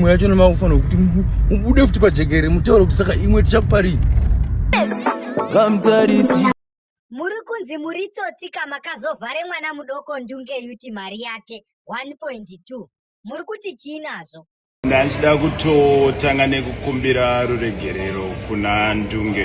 imwe yacho nemakufanira kuti ubude futi pajekere mutaure kuti saka imwe tichakuparii muri kunzi muri tsotsika makazovhare mwana mudoko ndunge yuti mari yake 1.2 muri kuti chii nazvo ndachida kutotanga nekukumbira ruregerero kuna ndunge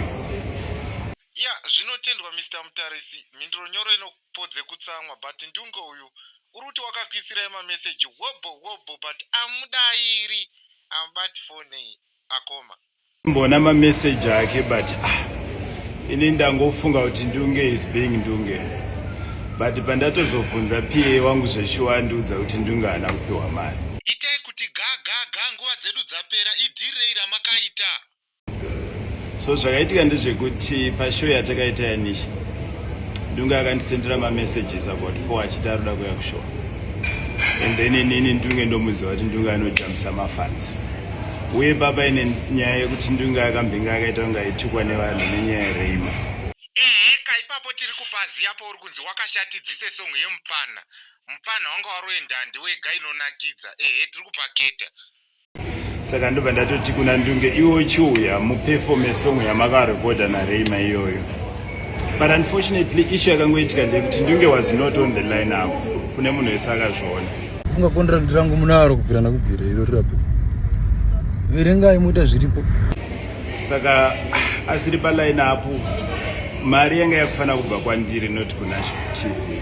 ya zvinotendwa mr mutarisi mhinduro nyoro ino po dzekutsamwa but ndunge uyu urikuti wakakuisirai mamessage hobho hobho but amudairi amubati fone akoma mbona mamessage ake but ah, ini ndangofunga kuti ndunge is being ndunge but pandatozobvunza pa wangu zveshuwa andiudza kuti ndunge haana kupiwa mari so zvakaitika ndezvekuti pashow yatakaita yanisha ndunge akandisendera mamessages about four achiti aroda kuya kushow and then inini ndunge ndomuziva kuti ndunge anojambisa mafanzi uye baba ine nyaya yekuti ndunge akambinga akaita kunge aitukwa nevanhu nenyaya yereima ehe ka ipapo tiri kupaziya pauri kunzi wakashatidzise song yemupfana mupfana wanga waroenda ndiwega inonakidza ehe tiri kupaketa saka ndobva ndatoti kuna ndunge iwe uchiuya muperfome song yamakarekodha nareima iyoyo but unfortunately ishu yakangoitika ndeyekuti ndunge was not on the line apo kune munhu wese akazviona funga kondirandi rangu munaro kubvira nakubvira iro rirapi verengai moita zviripo saka asiri paline apo mari yanga yakufanira kubva kwandiri not kunasho tv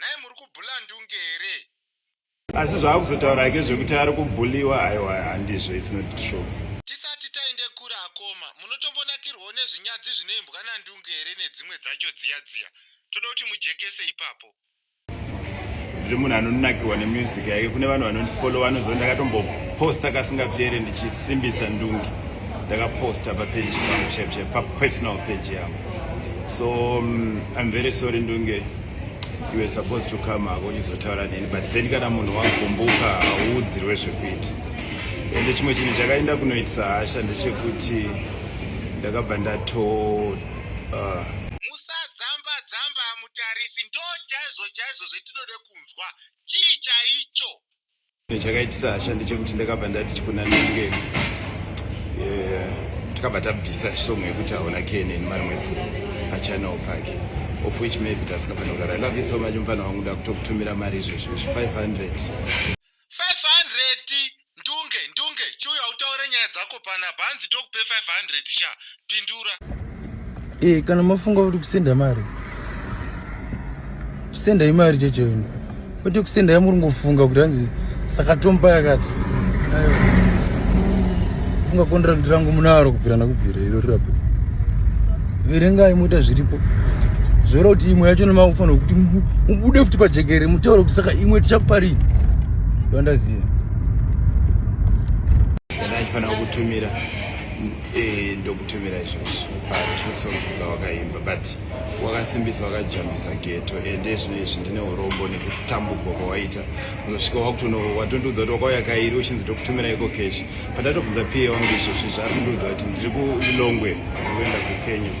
Nhai muri kubhula ndunge here? Asi zvaakuzotaura hake zvekuti ari kubhuliwa aiwa handizvo it's not true. Tisati taende kure akoma, munotombonakirwawo nezvinyadzi zvinoimbwa nandunge here nedzimwe dzacho dziya dziya? Toda kuti mujekese ipapo. Ndiri munhu anonakirwa nemusic yake, kune vanhu vanondifollowa vanoziva ndakatomboposta kasingapere ndichisimbisa ndunge. Ndakaposta papeji pangu chaipo chaipo papersonal page yangu. So um, I'm very sorry ndunge. you were supposed to come hako uchizotaura neni but then kana munhu wagumbuka hauudzirwe zvekuita ende chimwe chinhu chakaenda kunoitisa hasha ndechekuti ndakabva ndato uh, musadzamba dzamba mutarisi ndo chaizvo chaizvo zvetinoda kunzwa chii chaicho chakaitisa hasha ndechekuti ndakabva ndati chikunanenge takabva tabvisa song yekuti haona kene nemari mwese achanawo pake of which maybe tasingafanira kudaro i love you so much mufana wangu ndakutokutumira mari izvezvo izvi 500 500 ndunge ndunge chiuya utaure nyaya dzako pana bhanzi tokupe 500 sha pindura eh kana mafunga kuti kusenda mari kusenda imari cheche ino kuti kusenda yamuri ngofunga kuti hanzi saka tomba yakati ayo funga contract rangu munaro kubvira nakubvira iro rirapo verengai moita zviripo zvoda kuti imwe yacho nemakufanira kuti mubude futi pajekere mutaure kuti saka imwe tichakuparii ndoandaziva ndaifanira kutumira Eh, ndokutumira izvozvo pa two songs dzawakaimba but wakasimbisa wakajambisa geto ende eh, zvino izvi ndine urombo nekutambudzwa kwawaita unosvika wakutono watondiudza kuti wakauya kairi uchinzi ndokutumira iko keshi patatobvunza pa wangu izvozvi zvaari kundiudza kuti ndiri kulilongwe ndikuenda kukenya